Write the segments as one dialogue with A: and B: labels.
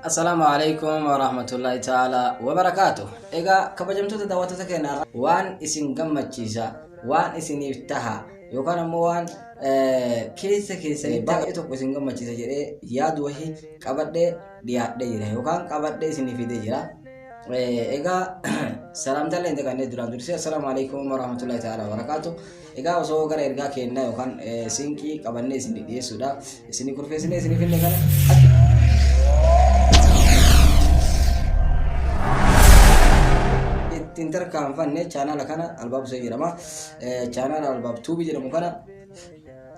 A: Assalaamu alaikum wa rahmatullahi ta'ala wa barakaatu. Egaa kabajamtoota daawwattoota keenya irraa waan isin gammachiisa, waan isiniif taha yookaan ammoo waan eh, keessa keessanii baay'ee tokko isin gammachiisa jedhee yaadu wahii qabadhee dhiyaadhee jira yookaan qabadhee isiniif fidee jira. Eh, Egaa salaamtaallee hin daganne duraan dursee assalaamu alaikum wa rahmatullahi ta'ala wa barakaatu. Egaa osoo gara ergaa keennaa yookaan eh, sinqii qabannee isinii dhiyeessuudha. Isinii kurfeessinee isinii finne kana akka ittiin tarkaanfanne chaanaala kana albaabsee jedhama. Eh, Chaanaala albaab tuubii jedhamu kana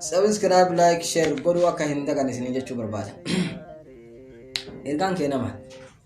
A: sabiskiraayib laayik sheer godhuu akka hin daganne isinii jechuu barbaada. Ergaan keenna maal?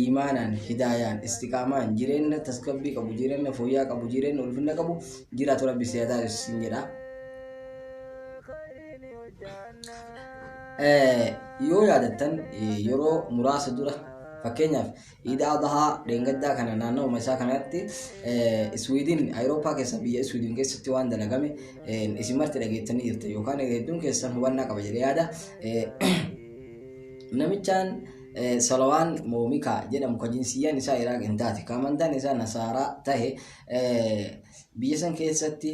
A: iimaanaan, hidaayaan, istiqaamaan, jireenna tasgabbii qabu, jireenna fooyyaa qabu, jireenna ulfinna qabu jiraatu rabbi si haa taasisu siin jedha. Eh, Yoo yaadattan eh, yeroo muraasa dura fakkeenyaaf iida adahaa dheengaddaa kana naannawuma isaa kanatti eh, Iswiidin Awurooppaa keessa biyya Iswiidin keessatti waan dalagame eh, isin marti dhageettanii jirta yookaan hedduun keessan hubannaa qaba jedhee yaada. Eh, namichaan Salawaan moo Mikaa jedhamu ka jinsiyyaan isaa Iraaq hin taate ka amantaan isaa Nasaaraa tahe biyya san keessatti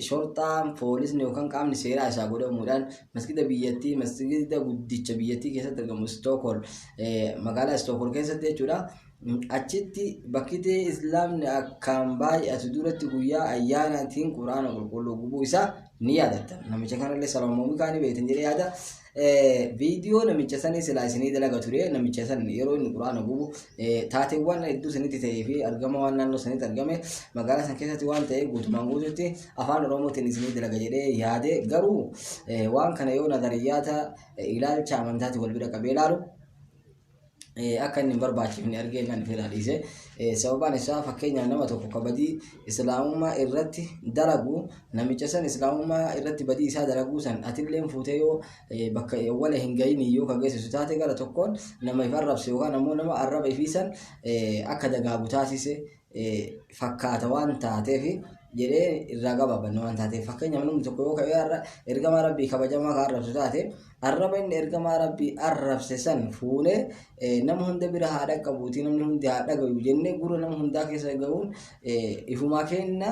A: shorxaan poolisni yookaan qaamni seeraa isaa godhamuudhaan masgida biyyattii masgida guddicha biyyattii keessatti argamu Istookol magaalaa Istookol keessatti jechuudha. Achitti bakkitee Islaamni akkaan baay'atu duratti guyyaa ayyaanaatiin Quraana qulqulluu gubuu isaa ni yaadattan. Namicha kanallee Salawaan moo Mikaa ni beektan jedhee yaada. Viidiyoo namicha sanii silaa isinii dalaga ture namicha san yeroo inni quraana gubu taateewwan hedduu sanitti ta'ee fi argama waan naannoo sanitti argame magaalaa san keessatti waan ta'e guutumaan guututti afaan oromootiin isinii dalaga jedhee yaade garuu waan kana yoo nadariyyaata ilaalcha amantaatti wal bira qabee ilaalu akka inni hin barbaachifne argee kan ofirraa dhiise. Sababaan isaa fakkeenyaaf nama tokko ka badii islaamummaa irratti dalagu namicha san islaamummaa irratti badii isaa dalaguu san atilleen fuutee yoo bakka wala hin gahini yoo ka geessisu taate gara tokkoon nama if arrabse yookaan ammoo nama arraba ifii san akka dagaagu taasise fakkaata waan taateef jedhee irraa gabaabanna waan taateef fakkeenyaaf namni tokko yoo ka'ee har'a ergamaa rabbii kabajamaa kan arrabsu taate arraba inni ergamaa rabbii arrabse san fuunee nama hunda bira haa dhaqqabuuti namni hundi haa dhagayu jennee gurra nama hundaa keessa gahuun ifumaa keenna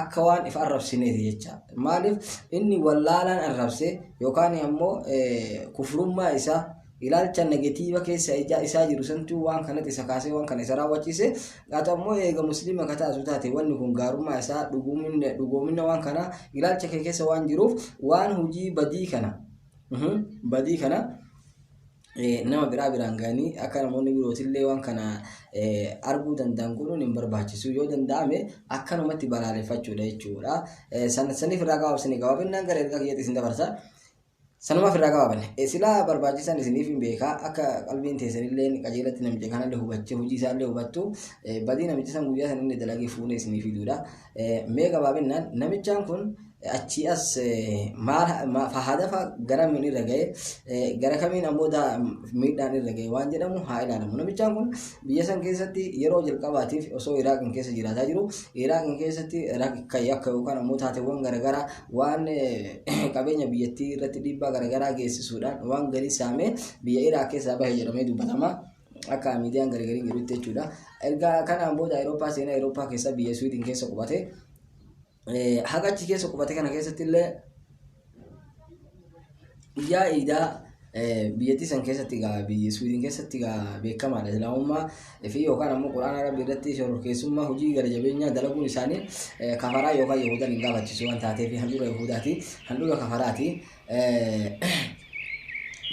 A: akka waan if arrabsineeti jecha maaliif inni wallaalaan arrabse yookaan ammoo kufrummaa isaa ilaalcha negatiiva keessa ijaa isaa jiru santuu waan kanatti isa kaasee waan kana isa raawwachiise haa ta'u ammoo eega musliima ka taatu taate wanni kun gaarummaa isaa dhuguumina dhugoomina waan kana ilaalcha kee keessa waan jiruuf waan hojii badii kana mhm, badii kana nama biraa biraan gahanii akka namoonni birootillee waan kana arguu danda'an godhuun hin barbaachisu yoo danda'ame akkanumatti balaaleffachuudha jechuudha. Saniif irraa gabaabsine gabaabinnaan gara ergaa kiyyaatti isin dabarsa. Sanumaaf irraa gabaabanne silaa barbaachisan isiniif hin beekaa akka qalbiin teessanillee qajeelatti namicha kanallee hubattee hojii isaallee hubattu badii namicha san guyyaa sanillee dalagee fuunee isiniif fiduudha. Mee gabaabinnaan namichaan kun achii as maal fahaadafa gara miin irra ga'e gara kamiin ammoo miidhaan irra ga'e waan jedhamu haa ilaalamu. Namichaan kun biyya san keessatti yeroo jalqabaatiif osoo Iraaqin keessa jiraataa jiru Iraaqin keessatti rakka yakka yookaan ammoo taateewwan garaagaraa waan qabeenya biyyattii irratti dhiibbaa garaagaraa geessisuudhaan waan galii saamee biyya Iraaq keessaa bahe jedhamee dubbatama. akka miidiyaan gargariin jedhutti jechuudha. Erga kanaan booda Awurooppaa seenaa Awurooppaa keessa biyya Swiidin keessa qubate. Haga achi keessa qubate kana keessatti illee guyyaa iidaa biyyattii san keessatti egaa biyya Swiidin keessatti egaa beekamaadha Islaamummaa fi yookaan ammoo Quraana Rabbi irratti shororkeessummaa hojii gara jabeenyaa dalaguun isaanii kafaraa yookaan Yahudan hin gaafachiisu waan taateef handhuura Yahudaati handhuura kafaraati.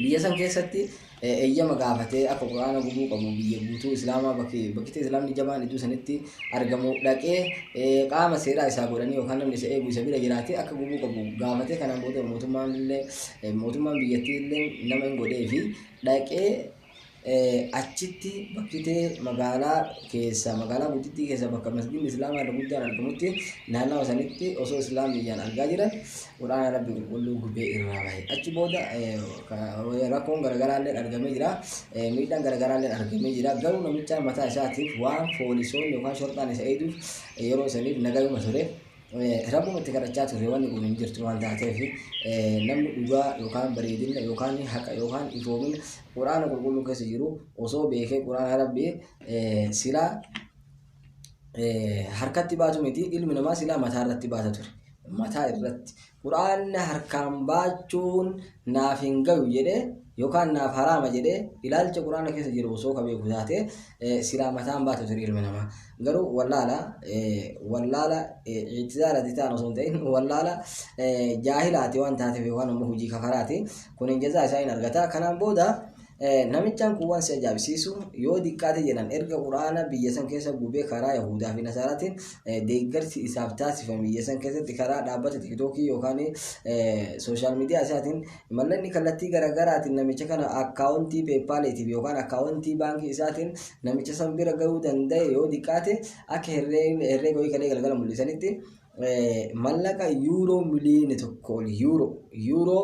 A: Biyya san keessatti eeyyama gaafatee akka Qur'aana gubuu qabu biyya guutuu Islaamaa bakki bakkita Islaamni jabaan iddoo sanitti argamu dhaqee eh, qaama seeraa isaa godhanii yookaan namni isa eegu isa bira jiraatee akka gubuu qabu gaafatee kanaan booda mootummaan illee eh, mootummaan biyyattii illee nama hin godhee fi dhaqee eh, achitti bakkitee magaalaa keessa magaalaa guddittii keessa bakka masgiin Islaamaa irra guddaan argamutti naannawa sanitti osoo Islaamiyyaan argaa jiran Qur'aana Rabbii Qulqulluu gubee irraa bahe. Achi booda rakkoon garaagaraallee argamee jira. Miidhaan garaagaraallee argamee jira. Garuu namicha mataa isaatiif waan foolisoonni yookaan shorxaan isa eeguuf yeroo saniif nagayuma ture. Rabbuma itti kadhachaa ture wanni kun hin jirtu waan taateef namni dhugaa yookaan bareedina yookaan haqa yookaan ifoomina Qur'aana Qulqulluu keessa jiru osoo beekee Qur'aana Rabbii silaa harkatti baatu miti ilmi namaa silaa mataa irratti baata ture mataa irratti quraanna harkaan baachuun naaf hin gayu jedhee yookaan naaf haraama jedhee ilaalcha quraana keessa jiru osoo ka beeku taate silaa mataan baatu ture ilmi namaa garuu wallaala wallaala ictizaarati ta'an osoo hin ta'in wallaala jaahilaati waan taateef yookaan ammoo hojii kafaraati kun hin jazaa isaa hin argata kanaan booda Namichaan kun waan si ajaa'ibsiisu yoo diqqaate jedhan erga Qur'aana biyya san keessa gubee karaa Yahuudaa fi Nasaaraatiin deeggarsi isaaf taasifame biyya san keessatti karaa dhaabbata Tiiktookii yookaan sooshaal miidiyaa isaatiin mallaqni kallattii garaagaraatiin namicha kana akkaawuntii peepaaleetiif yookaan akkaawuntii baankii isaatiin namicha san bira gahuu danda'e yoo diqqaate akka herreega ho'i kalee galgala mul'isanitti mallaqa yuuroo miliyoona tokko ol yuuroo yuuroo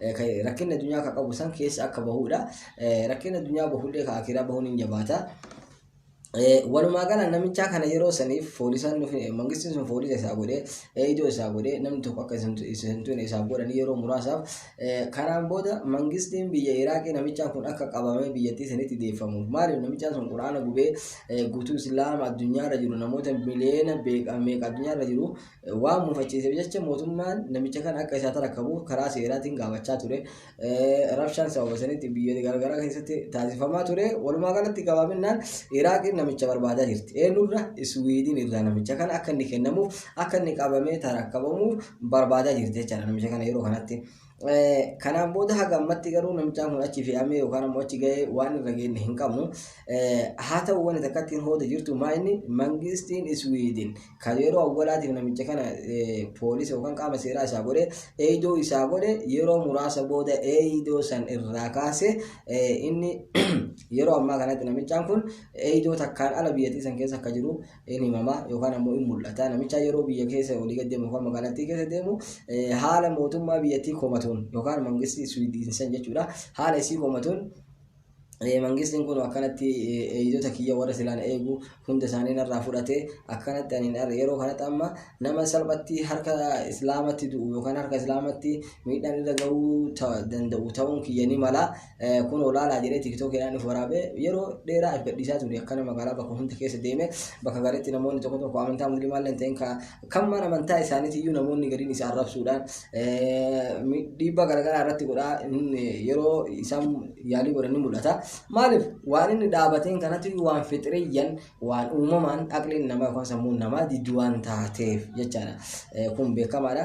A: Rakkinni addunyaa ka qabu san keessa akka bahuudha. Rakkinni addunyaa bahullee ka akiraa bahuun hin jabaata. Walumaa gala namichaa kana yeroo saniif foolisaan nufi mangistiin sun foolisa isaa godhee eeydoo isaa godhee namni tokko akka isintuun isaaf godhanii yeroo muraasaaf kanaan booda mangistiin biyya Iraaqii namichaan kun akka qabamee biyyattii sanitti deeffamuuf maaliif namichaan sun quraana gubee guutuu islaama addunyaarra jiru namoota miliyoona meeqa addunyaarra jiru Waan mufachiiseef jecha mootummaan namicha kana akka isaa tarakkabuuf karaa seeraatiin gaafachaa ture. Rabshaan sababa sanitti biyyoota garaagaraa keessatti taasifamaa ture. Walumaa galatti gabaabinnaan Iraaqiin namicha barbaadaa jirti. Eenyurra Iswiidiin irraa namicha kana akka inni kennamuuf akka inni qabamee tarakkabamuuf barbaadaa jirti jechaadha namicha kana yeroo kanatti. Kanaan booda haga ammatti garuu namichaan kun achi fe'amee yookaan ammoo achi gahee waan irra geenye hin qabnu. Haa ta'u wanti takka ittiin hooda jirtu maa inni mangistiin Iswiidin kan yeroo awwalaatiif namicha kana poolisa yookaan qaama seeraa isaa godhe eeydoo isaa godhe yeroo muraasa booda eeydoo san irraa kaase inni yeroo ammaa kanatti namichaan kun eeydoo takkaan ala biyyattii san keessa akka jiru in himama yookaan ammoo in mul'ata. Namichaa yeroo biyya keessa olii gad deemu yookaan magaalattii keessa deemu haala mootummaa biyyattii komatuun yookaan mangistii Swiidinsan jechuudha. Haala isii komatuun mangistiin kun akkanatti eegdota kiyya warra silaan eegu hunda isaanii narraa fudhate akkanatti ani yeroo kanatti amma nama salphatti harka islaamatti du'u yookaan harka islaamatti miidhaan irra ga'uu danda'u ta'uun kiyya ni mala kun olaanaa jedhee tiktookiidhaan of waraabee yeroo dheeraa if gadhiisaa ture akkana magaalaa bakka hunda keessa deeme bakka gariitti namoonni tokko tokko amantaa musliimaa illee ta'in kan mana amantaa isaaniitti iyyuu namoonni gariin isa arrabsuudhaan dhiibbaa garaagaraa irratti godhaa yeroo isaan yaalii godhan ni mul'ata. Maaliif waan inni dhaabateen kanatti waan fixiriyyan waan uumamaan aqliin namaa yookaan sammuun namaa diddu waan taateef jechaadha. Kun beekamaadha.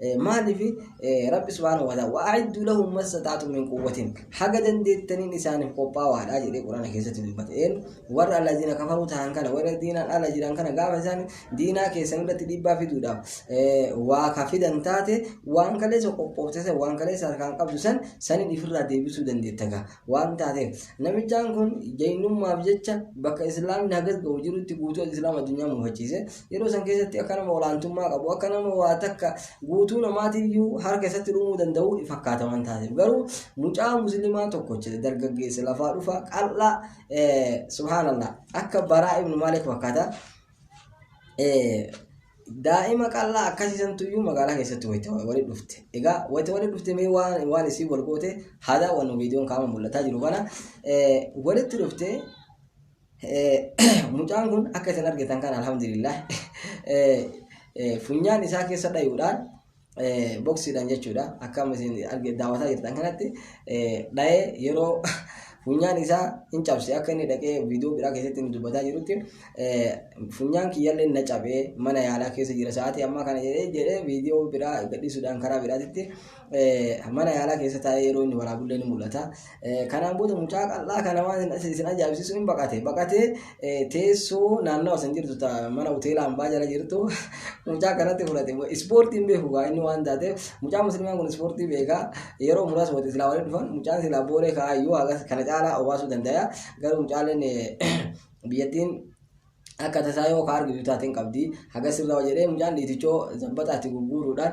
A: Maaliif Rabbi subhaanahu wa ta'ala wa'aiddu lahum masataatu min quwwatin haga dandeettaniin isaaniif qophaawaadha jedhee Qur'aana keessatti dubbate. Een warra allazina kafaruu ta'an kana warra diinaan ala jiran kana gaafa isaan diinaa keessan irratti dhiibbaa fiduudhaaf waa ka fidan taate waan kaleessa qophoofte san waan kaleessa harkaan qabdu san sanin ifirraa deebisuu dandeetta gaa. waan taateef. Namichaan kun jaynummaaf jecha bakka Islaamni hagas ga'u jirutti guutuu Islaam addunyaa mufachiise. Yeroo san keessatti akka nama olaantummaa qabu, akka nama waa takka guutuu namaatiyyuu harka isatti dhumuu danda'u fakkaata waan taateef. Garuu mucaa muslimaa tokkocha dargaggeessa lafaa dhufaa qal'aa subhaanallah akka baraa ibnu maalik fakkaata. Daa'ima qal'aa akkasii santu iyyuu magaalaa keessatti wayita walitti dhufte. Egaa wayita walitti dhufte mee waan waan isiin wal goote haa daawwannu viidiyoon kaama mul'ataa jiru kana. Walitti dhufte mucaan kun akka isin argitan kana alhamdulillah funyaan isaa keessa dhayuudhaan boksiidhaan jechuudha akkam isin arge daawwataa jirtan kanatti dha'ee yeroo funyaan isaa hin cabse akka inni dhaqee viidiyoo biraa keessatti inni dubbataa jirutti funyaan kiyyallee na cabee mana yaalaa keessa jira sa'aatii ammaa kana jedhee jedhee viidiyoo biraa gadhiisuudhaan karaa biraatitti mana yaalaa keessa taa'ee yeroo inni waraabullee ni mul'ata. Kanaan booda mucaa qal'aa kana waan isin- isin ajaa'ibsiisu in baqate. Baqatee eh, teessoo naannawa san jirtu ta mana hoteela hambaa jala jirtu mucaa kanatti fudhate. Ispoortii hin beeku gaa inni waan taate mucaa muslimaan kun ispoortii beeka. Yeroo muraasa walitti silaa walitti dhufan mucaan silaa boolee kaa'aa iyyuu hagas kana caalaa obaasuu danda'a. Garuu mucaaleen eh, biyyattiin akka tasaa yoo ka argitu taateen qabdi haga sirraa jedhee mucaan dhiitichoo zabbataatti gurguuruudhaan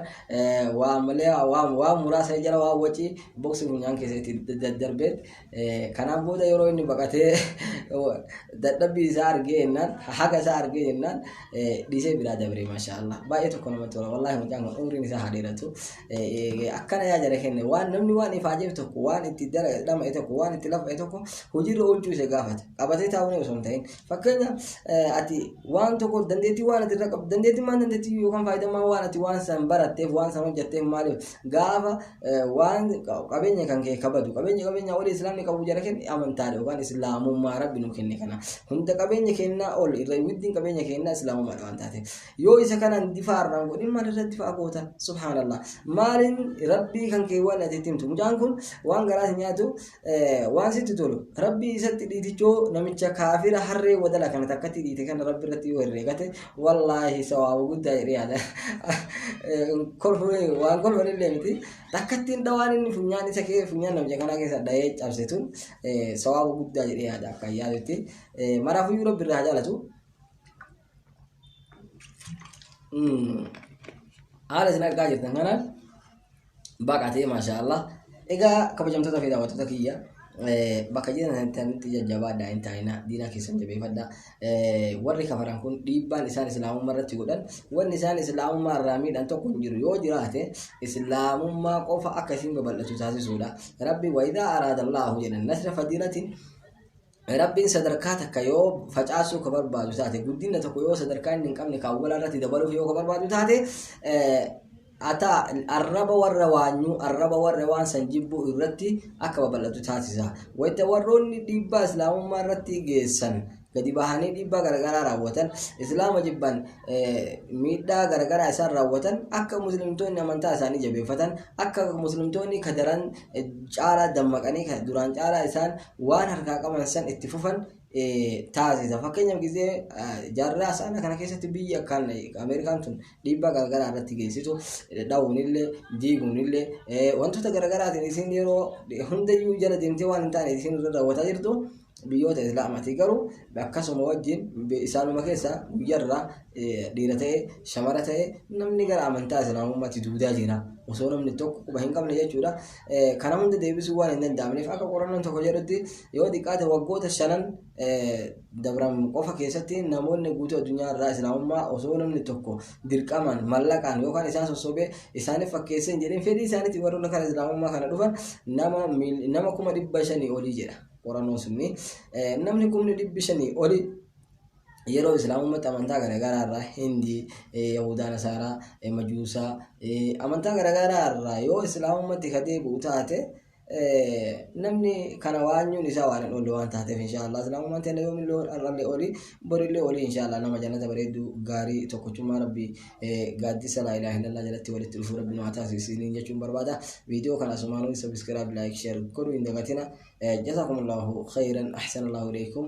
A: waa malee waa muraasa jala waa wacii boksii funyaan keessa itti daddarbeet kanaan booda yeroo inni baqatee dadhabbii isaa argee jennaan haga isaa argee jennaan dhiisee biraa dabree maashaallah baay'ee tokko namatti tola wallaahi mucaan kun umriin isaa haa dheeratu akkana yaa jara kenne waan namni waan ifaajeef tokko waan itti dhama'e tokko waan itti lafa'e tokko hojiirra oolchuu isa gaafata qabatee taa'uun osoo hin ta'in Fakkeenya ati waan tokko dandeettii waan ati irra qabdu dandeettii maan dandeettii yookaan faayidammaa waan ati waan san baratteef waan san hojjetteef maaliif gaafa waan qabeenya kan kee kabadu qabeenya qabeenya olii islaamni qabu jara kenne amantaadha yookaan islaamummaa rabbi nu kenne kana hunda qabeenya kennaa ol irra widdiin qabeenya kennaa islaamummaadha waan taate yoo isa kanaan difaa irraan godhin maal irra difaa goota subhaanallah maaliin rabbii kan kee waan ati itti himtu mucaan kun waan garaas nyaatu waan sitti tolu rabbii isatti dhiitichoo namicha kaafira harree wadala kana takkatti dhiite kana rabbi irratti yoo herreegate wallaahi sawaaba guddaa jedhee yaada kolfuu waan kolfan illee miti takkattiin dhawaan inni funyaan isa kee funyaan namicha kanaa keessa dhahee cabse tun sawaaba guddaa jedhee yaada akka yaadutti maraafuyyuu rabbi irraa haa jaalatu haala isin argaa jirtan kanaan baqatee maashaallah egaa kabajamtoota fi daawwattoota kiyya bakka jiranitti jajjabaadhaa hin taa'ina diina keessan jabeeffadha warri kafaran kun dhiibbaan isaan islaamummaa irratti godhan wanni isaan islaamummaa irraa miidhan tokko hin jiru yoo jiraate islaamummaa qofa akka isin babal'atu taasisuudha rabbi wayidaa araada allaahu jedhan nasra fadiilatiin Rabbiin sadarkaa takka yoo facaasuu ka barbaadu taate, guddinna tokko yoo sadarkaa inni hin qabne ka awwalaa irratti dabaluuf yoo ka barbaadu taate, ata arraba warra waanyuu, arraba warra waan san jibbuu irratti akka babal'atu taasisa. Wayta warroonni dhiibbaa Islaamummaa irratti geessan gadi bahanii dhiibbaa garagaraa raawwatan, Islaama jibban miidhaa garagaraa isaan raawwatan, akka muslimtoonni amantaa isaanii jabeeffatan, akka muslimtoonni ka daran caalaa dammaqanii ka duraan caalaa isaan waan harkaa qaban san itti fufan taasisa. Fakkeenyaaf gisee jaarraa saana kana keessatti biyyi akkaan Ameerikaan tun dhiibbaa garaagaraa irratti geessitu dha'uunillee diiguunillee wantoota garaagaraatiin isin yeroo hundayyuu jala deemtee waan hin taane isin irra raawwataa jirtu biyyoota islaamaatii garuu akkasuma wajjin isaanuma keessa guyyarraa dhiira ta'e shamara ta'e namni gara amantaa islaamummaatti duudaa jira osoo namni tokko quba hin qabne jechuudha. Kana hunda deebisuu waan hin danda'amneef akka qorannoon tokko jedhutti yoo xiqqaate waggoota shanan dabran qofa keessatti namoonni guutuu addunyaa irraa islaamummaa osoo namni tokko dirqamaan mallaqaan yookaan isaan sossobee isaaniif fakkeessee hin jedhin fedhii isaaniitiin warroonni kana islaamummaa kana dhufan nama nama kuma dhibba shanii olii jedha qorannoon sunni namni kumni dhibbi shanii olii yeroo islaamummaatti amantaa garaagaraa irraa hindii yahudaa nasaaraa majuusaa amantaa garaagaraa irraa yoo islaamummaatti ka deebi'u taate namni kana waanyuun isaa waan hin oolle waan taateef inshaallah islaamummaan teenya yoomillee har'allee oli borillee oli inshaallah nama jannata bareedduu gaarii tokkochummaa rabbii gaaddisa laa ilaaha illallah jalatti walitti dhufuu rabbi nu haa taasisu isiniin jechuun barbaada viidiyoo kana asumaanuu sabiskiraayib laayik sheer godhuu hin dagatina jazaakumullaahu khayran ahsanallaahu ilaykum